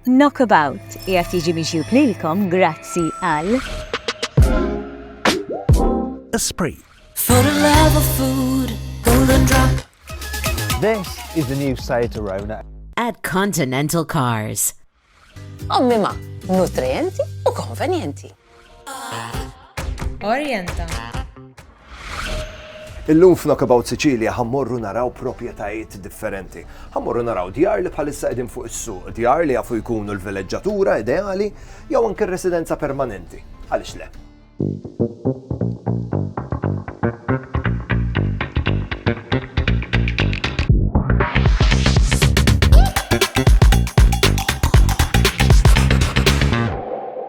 Knockabout qiegħed jiġi miġjub lilkom grazzi għal. Esprit. For the love of food, golden drop. This is the new Seat Arona. At Continental Cars. Ommima, nutrienti u konvenjenti. Orjenta. Illum f'Knockabout Sicilia ħammorru naraw proprjetajiet differenti. Ħammorru naraw djar li bħalissa qegħdin fuq is-suq, djar li jafu jkunu l-vileġġatura ideali jew anke residenza permanenti. Għaliex le?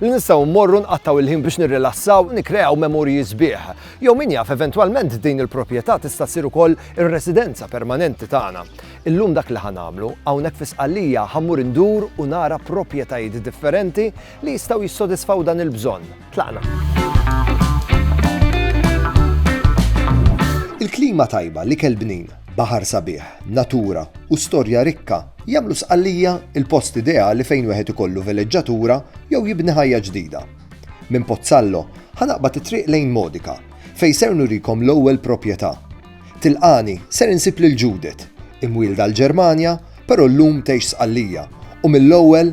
li nistgħu mmorru nqattgħu il-ħin biex nirrilassaw u nikkreaw memorji sbieħ. Jew min jaf eventwalment din il-proprjetà tista' ssir ukoll ir-residenza permanenti tagħna. Illum dak li ħa nagħmlu, hawnhekk fi Sqallija ħa mmur indur u nara proprjetajiet differenti li jistgħu jissodisfaw dan il-bżonn. Tlaqna! Il-klima tajba, l-ikel bnin, Baħar sabiħ, natura, u storja rikka jagħmlu Sqallija l-post ideali fejn wieħed ikollu veleġġatura jew jibni ħajja ġdida. Minn Pozzallo ħa naqbad it-triq lejn Modica, fejn ser nurikom l-ewwel proprjetà. Tilqani ser insib lil Judith, imwielda l-Ġermanja, però llum tgħix Sqallija, u mill-ewwel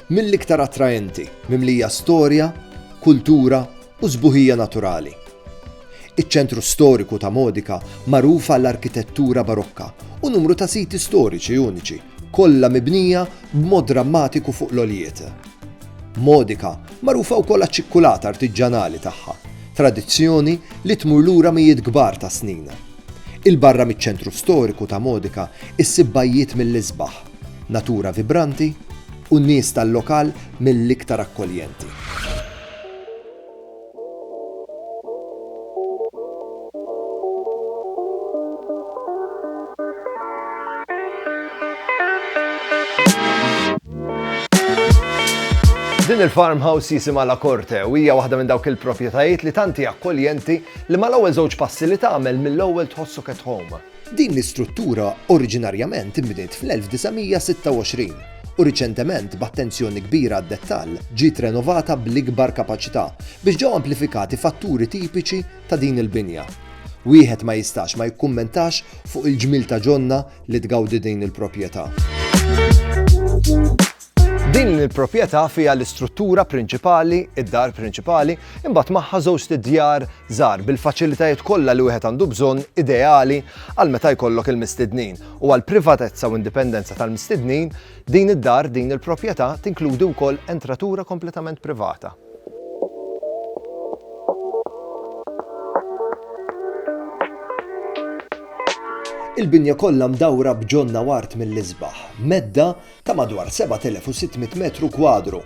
mill-iktar attraenti, mimlija storja, kultura u sbuħija naturali. Iċ-ċentru storiku ta' Modica magħruf għall-arkitettura Barokka u numru ta' siti storiċi uniċi, kollha mibnija b'mod drammatiku fuq l-għoljiet. Modica magħrufa wkoll għaċ-ċikkulata artiġġanali tagħha, tradizzjoni li tmur lura mijiet kbar ta' snin. 'il barra miċ-ċentru storiku ta' Modica issib bajjiet mill-isbaħ. Natura vibranti u n-nies tal-lokal mill-iktar akkoljenti. Din il-farmhouse jisimha La Corte u hija waħda minn dawk il-proprjetajiet li tant hija akkoljenti li mal-ewwel żewġ passi li tagħmel mill-ewwel tħossok at home. Din l-istruttura oriġinarjament inbniet fl-1926 u riċentement b'attenzjoni kbira għad-dettall ġiet renovata bl-ikbar kapaċità biex ġew amplifikati fatturi tipiċi ta' din il-binja. Wieħed ma jistax ma jikkummentax fuq il-ġmiel ta' ġonna li tgawdi din il-proprjetà. Din il-proprjetà fiha l-istruttura prinċipali, id-dar prinċipali, imbagħad magħha żewġt djar żgħar bil-faċilitajiet kollha li wieħed għandu bżonn ideali għal meta jkollok il-mistednin. U għal privatezza u indipendenza tal-mistednin, din id-dar, din il-proprjetà tinkludi wkoll entratura kompletament privata. Il-binja kollha mdawra b'ġonna wart mill-isbaħ, medda ta' madwar 7,600 metru kwadru,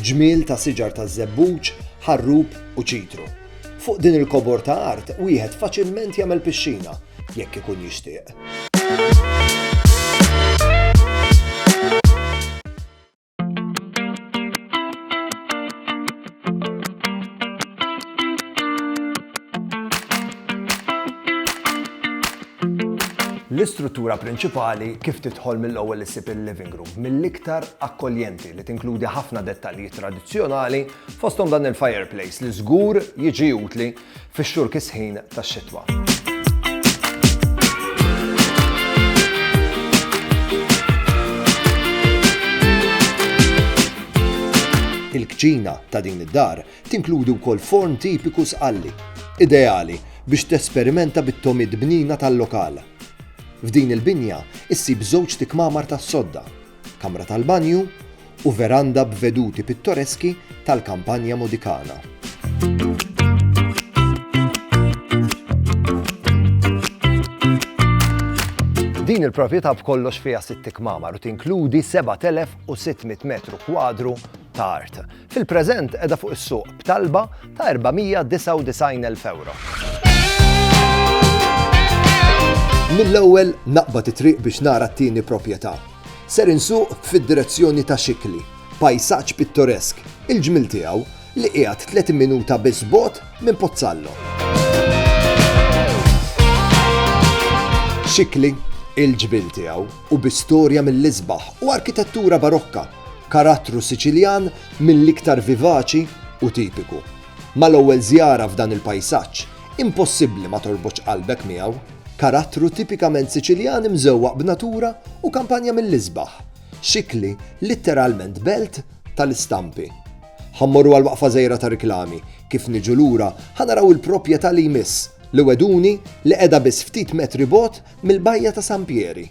ġmiel ta' siġar taż-żebbuġ, ħarrub u ċitru. Fuq din il-kobor ta' art wieħed faċilment jagħmel pixxina, jekk ikun jixtieq. L-istruttura prinċipali kif tidħol mill-ewwel issib il-living room, mill-iktar akkoljenti li tinkludi ħafna dettalji tradizzjonali fosthom dan il-fireplace li żgur jiġi utli fix-xhur kisħin tax-xitwa. il-kċina ta' din id-dar Tinkludi wkoll forn tipiku Sqalli, ideali biex tesperimenta bit-togħmiet bnina tal-lokal. F'din il-binja ssib żewġt ikmamar tas-sodda, kamra tal-banju u veranda b'veduti pittoreski tal-Campagna Modicana. Din il-proprjetà b'kollox fiha sitt ikmamar u tinkludi 7,600 metru kwadru ta' art. Fil-preżent qiegħda fuq is-suq b'talba ta' 499,000 ewro. Mill-ewwel naqbad it-triq biex nara t-tieni proprjetà. Ser insuq fid-direzzjoni ta' Xikli, pajsaġġ pittoresk, il-ġmiel tiegħu li qiegħed 30 minuta biss bot minn Pozzallo. Xikli, il-ġbil tiegħu u bi storja mill-isbaħ u arkitettura barokka Karattru Siċiljan mill-iktar vivaċi u tipiku. Mal-ewwel żjara f'dan il-pajsaġġ, impossibbli ma torbotx qalbek miegħu. Karattru tipikament Siċiljan imżewwaq b'natura u kampanja mill-isbaħ. Xikli litteralment belt tal-istampi. Ħa mmorru għal waqfa żgħira ta' riklami. Kif niġu lura, ħa naraw il-propjetà li jmiss, li wegħduni li qiegħda biss ftit metri bogħod mill-bajja ta' San Pieri.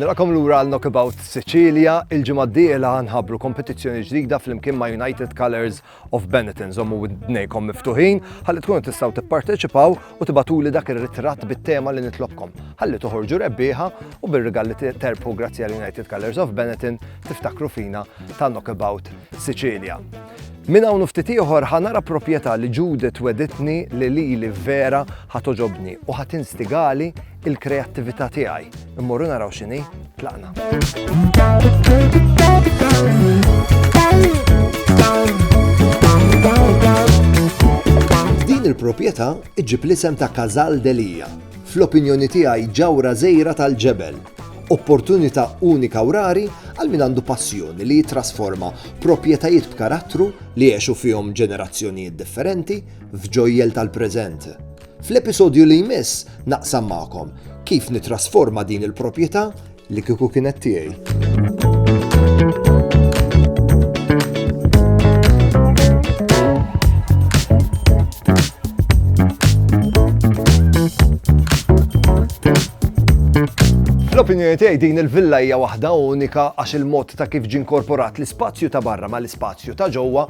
Nilqakom lura għal Knockabout Sicilia, il-ġimgħa d-dieħla ħanħabbru kompetizzjoni ġdida flimkien ma' United Colours of Benetton. Żommu widnejkom miftuħin ħalli tkunu tistgħu tipparteċipaw u tibatuli dak ir-ritratt bit-tema li nitlobkom. Ħalli toħorġu rebbieħa u bir-rigal li terbħu grazzi għal United Colours of Benetton tiftakru fina ta' Knockabout Sicilia. Min hawn ftit ieħor ħanara proprjetà li Judith weditni li lili vera ħatoġobni u ħatinstigali il-kreattività tiegħi. Immorru naraw x'inhi, tlaqna. Din il-proprjetà iġib l-isem ta' Kazal Delija. Fl-opinjoni tiegħi ġawra żejra tal-ġebel. Opportunità unika u rari għal min għandu passjoni li jitrasforma proprjetajiet b'karattru li jgħexu fihom ġenerazzjonijiet differenti f'ġojjel tal-preżent. Fl-episodju li jmiss naqsam magħkom kif nitrasforma din il-proprjetà li kieku kienet tiegħi. Fl-opinjoni tiegħi din il-villa hija waħda unika għax il-mod ta' kif ġie inkorporat l-ispazju ta' barra ma' l-ispazju ta' ġewwa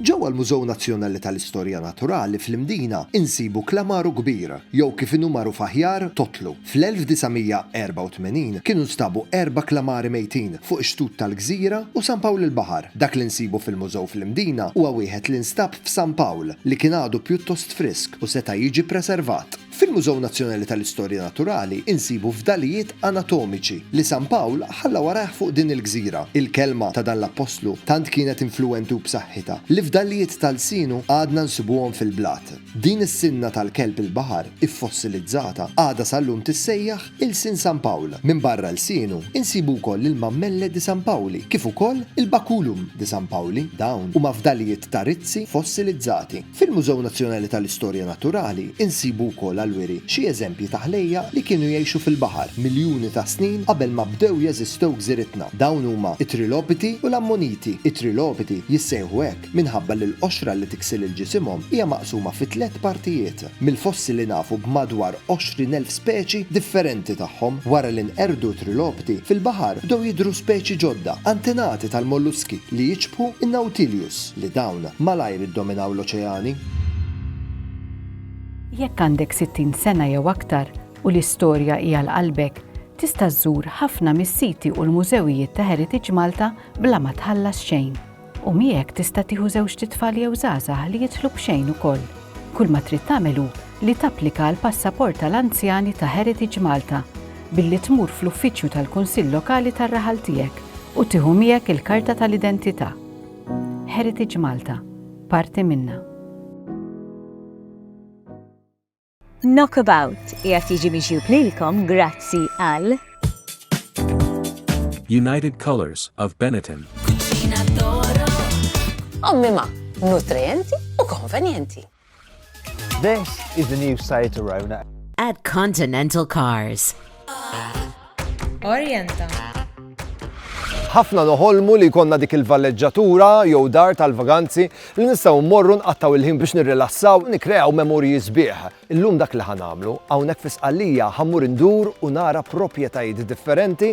Ġewwa l-Mużew Nazzjonali tal-Istorja Naturali fl-Imdina insibu Klamaru Kbir, jew kif inhu magħruf aħjar, Totlu. Fl-1984 kienu nstabu erba' klamari mejtin fuq ix-xtut tal-gżira u San Pawl il-Baħar. Dak li nsibu fil-mużew fl-Imdina huwa wieħed li nstab f'San Pawl li kien għadu pjuttost frisk u seta' jiġi preservat. Fil-Mużew Nazzjonali tal-Istorja Naturali insibu fdalijiet anatomiċi li San Pawl ħalla warajh fuq din il-gżira. Il-kelma ta' dan l-appostlu tant kienet influwenti u b'saħħitha li fdalijiet ta' lsienu għadna nsibuhom fil-blat. Din is-sinna tal-kelb il-baħar iffossilizzata għadha sal-lum tissejjaħ ilsien San Pawl. Minbarra lsienu, insibu wkoll il-mammelle di San Pauli kif ukoll il-baculum di San Pauli. Dawn huma fdalijiet ta' rizzi fossilizzati. Fil-Mużew Nazzjonali tal-Istorja Naturali insibu wkoll għall-wiri xi eżempji ta' ħlejjaq li kienu jgħixu fil-baħar miljuni ta' snin qabel ma bdew jeżistew gżiritna. Dawn huma t-trilopiti u l-ammoniti. It-trilopiti jissejħu hekk minħabba li l-qoxra li tiksel il ġisimhom hija maqsuma fi tliet partijiet. Mill-fossili nafu b'madwar 20 elf speċi differenti tagħhom. Wara li nqerdu t-trilopiti, fil-baħar bdew jidhru speċi ġodda, antenati tal-molluski li jiċbħu n-nautilius. li dawn malajr iddominaw l-oċeani. Jekk għandek 60 sena jew aktar u l-istorja hi għal qalbek, tista' żżur ħafna mis-siti u l-mużewijiet ta' Heritage Malta bla ma tħallas xejn. U miegħek tista' tieħu żewġt itfal jew żgħażagħ li jidħlu b'xejn ukoll. Kull ma trid tagħmel hu li tapplika għall-passaport tal-anzjani ta' Heritage Malta billi tmur fl-uffiċċju tal-Kunsill Lokali tar-raħal tiegħek u tieħu miegħek il-karta tal-identità. Heritage Malta, parti minnha. Knockabout qiegħed jiġi miġjub lilkom grazzi għal United Colors of Benetton. Ommi ma, nutrienti u konvenjenti. This is the new Seat Arona. At Continental Cars. Orienta. ħafna noħolmu li konna dik il-valleġġatura jew dar tal-vaganzi li nistgħu mmorru nqattaw il-ħin biex nirrilassaw nikreaw memorji sbieħ. Illum dak li ħanamlu, hawnhekk fi Sqallija ħammur indur u nara proprjetajiet differenti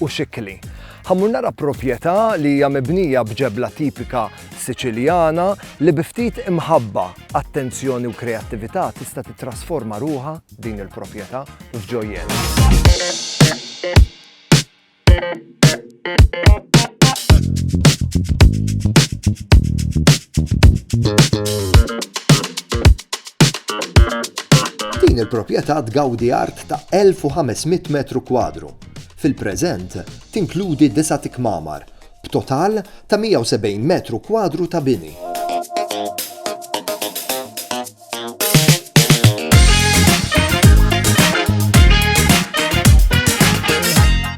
u Xikli. Ħa mmur nara proprjetà li hija mibnija b'ġebla tipika Siċiljana li bi ftit imħabba, attenzjoni u kreattività tista' titrasforma ruha din il-proprjetà f'ġojjel. Din il-proprjetà tgawdi art ta' 1500 metru kwadru Fil-preżent tinkludi disa' tikmamar, b'total ta' 170 metru kwadru ta' bini.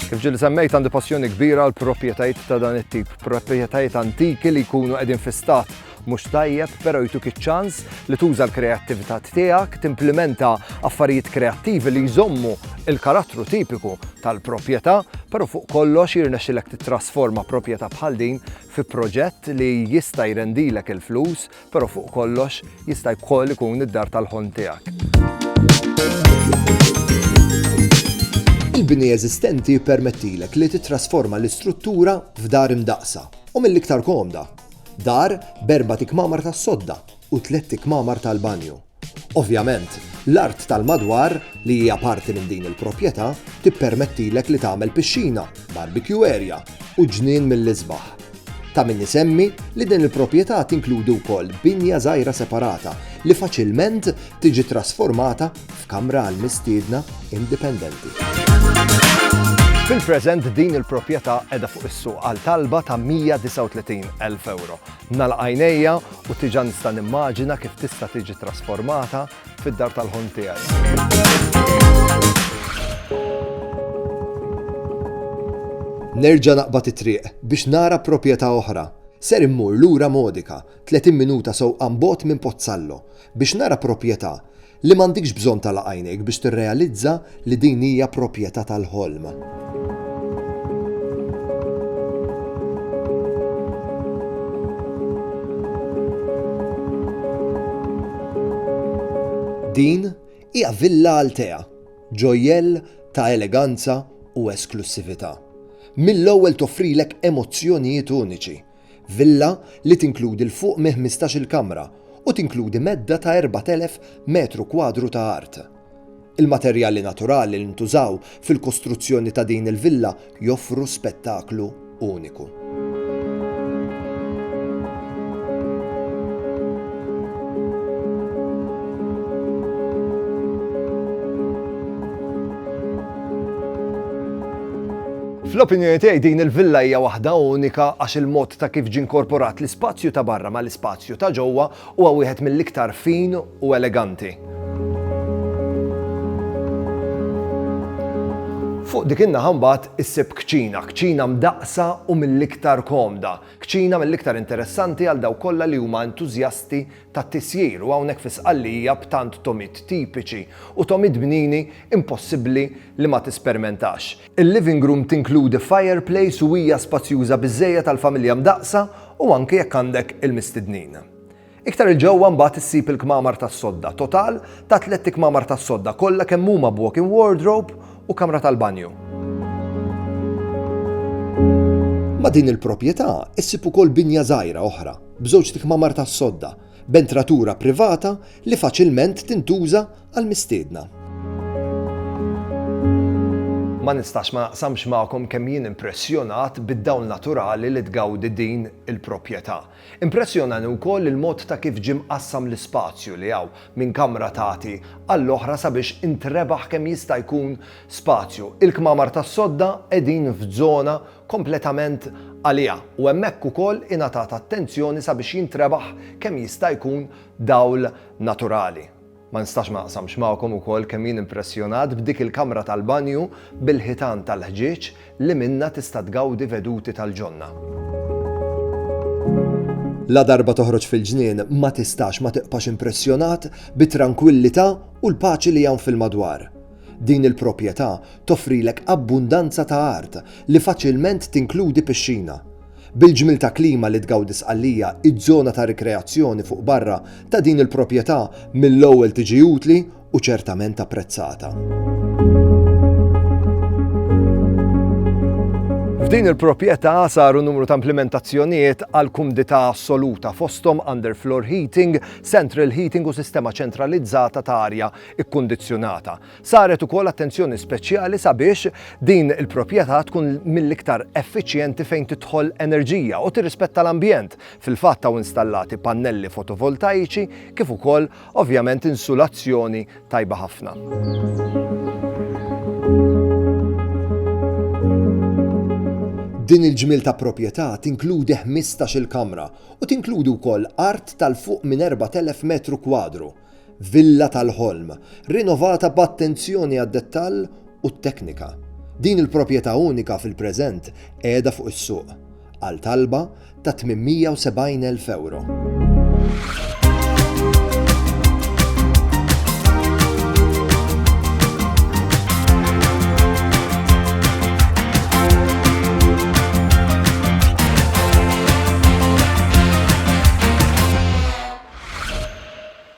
Kif ġieli semmejt għandi passjoni kbira għall-proprjetajiet ta' dan it-tip, proprjetajiet antiki li jkunu qegħdin fi stat mhux tajjeb, però jtuk iċ-ċans li tuża l-kreattività tiegħek, timplimenta affarijiet kreattivi li jżommu l-karattru tipiku tal-proprjetà, però fuq kollox jirnexxilek tittrasforma proprjetà bħal din fi proġett li jista' jrendilek il-flus, però fuq kollox jista' wkoll ikun id-dar tal-ħolm tiegħek. Il-bini eżistenti jippermettilek li tittrasforma l-istruttura f'dar imdaqqsa u mill-iktar komda. Dar b'erbat ikmamar tas-sodda u tlett ikmamar tal-banju. Ovvjament, l-art tal-madwar, li hija parti minn din il-proprjetà, tippermettilek li tagħmel pixxina, barbecue area u ġnien mill-isbaħ. Ta' min isemmi li din il-proprjetà tinkludi wkoll binja żgħira separata li faċilment tiġi trasformata f'kamra għal mistiedna indipendenti. Fil-preżent din il-proprjetà qiegħda fuq is-suq għal talba ta' 139,000 euro. Nagħlaq għajnejja u tiġa nista' nimmaġina kif tista' tiġi trasformata fid-dar tal-ħon tiegħi. Nerġa' naqbad it-triq biex nara proprjetà oħra. Ser immur lura Modica, 30 minuta sewqan bogħod minn Pozzallo. Biex nara proprjetà li m'għandikx bżonn tagħlaq għajnejk biex tirrealizza li din hija proprjetà tal-ħolm. Din hija Villa Altea, ġojjell ta' eleganza u esklussività. Mill-ewwel toffrilek emozzjonijiet uniċi Villa li tinkludi 'l fuq minn ħmistax-il kamra u tinkludi medda ta' 4,000 metru kwadru ta' art. Il-materjali naturali li ntużaw fil-kostruzzjoni ta' din il-villa joffru spettaklu uniku. Fl-opinjoni tiegħi din il-villa hija waħda unika għax il-mod ta' kif ġie nkorporat l-ispazju ta' barra mal-ispazju ta' ġewwa huwa wieħed mill-iktar fin u eleganti. Fuq dik in-naħa mbagħad issib kċina, kċina mdaqqsa u mill-iktar komda, kċina mill-iktar interessanti għal dawk kollha li huma entużjasti tat-tisjir u hawnhekk fi Sqallija b'tant tomid tipiċi u tomid bnini impossibbli li ma tispermentax. Il-living room tinkludi fireplace u hija spazjuża biżżejjed għal familja mdaqqsa u anki jekk għandek il-mistednin. Iktar 'il ġewwa mbagħad issib il-kmamar tas-sodda, total ta' tlett ikmamar tas-sodda kollha kemm huma b'walk-in wardrobe u kamra tal-banju. Ma' din il-proprjetà issib ukoll binja żgħira oħra b'żewġt ikmamar tas-sodda, b'entratura privata li faċilment tintuża għall-mistiedna. Ma nistax ma naqsamx magħkom kemm jien impressjonat bid-dawl naturali li tgawdi din il-proprjetà. Impressjonani wkoll il-mod ta' kif ġie mqassam l-ispazju li hawn minn kamra tagħti għall-oħra sabiex intrebaħ kemm jista' jkun spazju. Il-kmamar tas-sodda qegħdin f'żona kompletament għaliha u hemmhekk ukoll ingħatat attenzjoni sabiex jintrebaħ kemm jista' jkun dawl naturali. Ma nistax ma naqsamx magħkom ukoll kemm jien impressjonat b'dik il-kamra tal-banju bil-ħitan tal-ħġieġ li minnha tista' tgawdi veduti tal-ġonna. Ladarba toħroġ fil-ġnien ma tistax ma tiqpax impressjonat bit-trankwillità u l-paċi li hawn fil-madwar. Din il-proprjetà toffrilek abbundanza ta' art li faċilment tinkludi pixxina. Bil-ġmiel ta' klima li tgawdi Sqallija, iż-żona ta' rikreazzjoni fuq barra ta' din il-proprjetà mill-ewwel tiġi utli u ċertament apprezzata. F'din il-proprjetà saru numru ta' implimentazzjonijiet għall-kumdità assoluta, fosthom underfloor heating, central heating u sistema ċentralizzata ta' arja ikkundizzjonata. Saret ukoll attenzjoni speċjali sabiex din il-proprjetà tkun mill-iktar effiċjenti fejn tidħol enerġija u tirrispetta l-ambjent. Fil-fatt hawn installati pannelli fotovoltaiċi kif ukoll ovvjament insulazzjoni tajba ħafna. Din il-ġmiel ta' proprjetà tinkludi 15-il kamra u tinkludi wkoll art tal-fuq minn 4,000 metru kwadru. Villa tal-ħolm, rinovata b'attenzjoni għad-dettall u t-teknika. Din il-proprjetà unika fil-preżent qiegħda fuq is-suq għal talba ta' €870,000.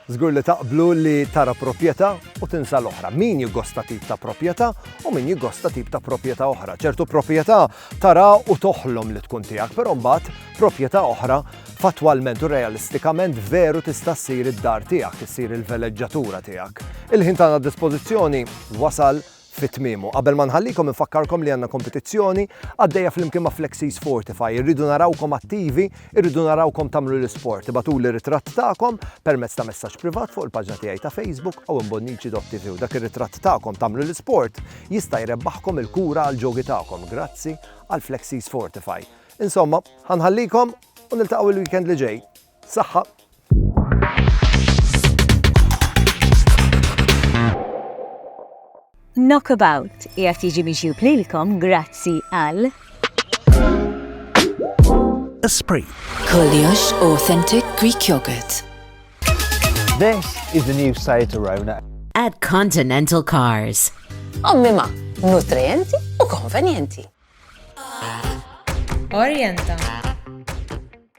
Żgur li taqblu li tara proprjetà u tinsa l-oħra. Min jiggosta tip ta' proprjetà u min jiggosta tip ta' proprjetà oħra. Ċertu proprjetà tara u toħlom li tkun tiegħek, però mbagħad proprjetà oħra fattwalment u realistikament veru tista' ssir id-dar tiegħek, issir il-veleġġatura tiegħek. Il-ħin tagħna d-dispożizzjoni wasal Fi tmiemu, qabel ma nħallikom infakkarkom li għandna kompetizzjoni għaddejja flimkien ma' Flexis Fortify. Irridu narawkom attivi, irridu narawkom tagħmlu l-isport. Ibagħtuli ritratt tagħkom permezz ta' messaġġ privat fuq il-paġna tiegħi ta' Facebook owenbonnici.tv u dak ir-ritratt tagħkom tagħmlu l-isport jista' jrebbaħkom il-kura għall-ġogi tagħkom grazzi għal Flexis Fortify. Insomma, ħa nħallikom u niltaqgħu l-weekend li ġej. Saħħa! Knockabout qiegħed jiġi miġjub lilkom grazzi għal Esprit. Koljox Authentic Greek Yogurt. This is the new Seat Arona. At Continental Cars. Ommima, nutrienti u konvenienti. Orienta.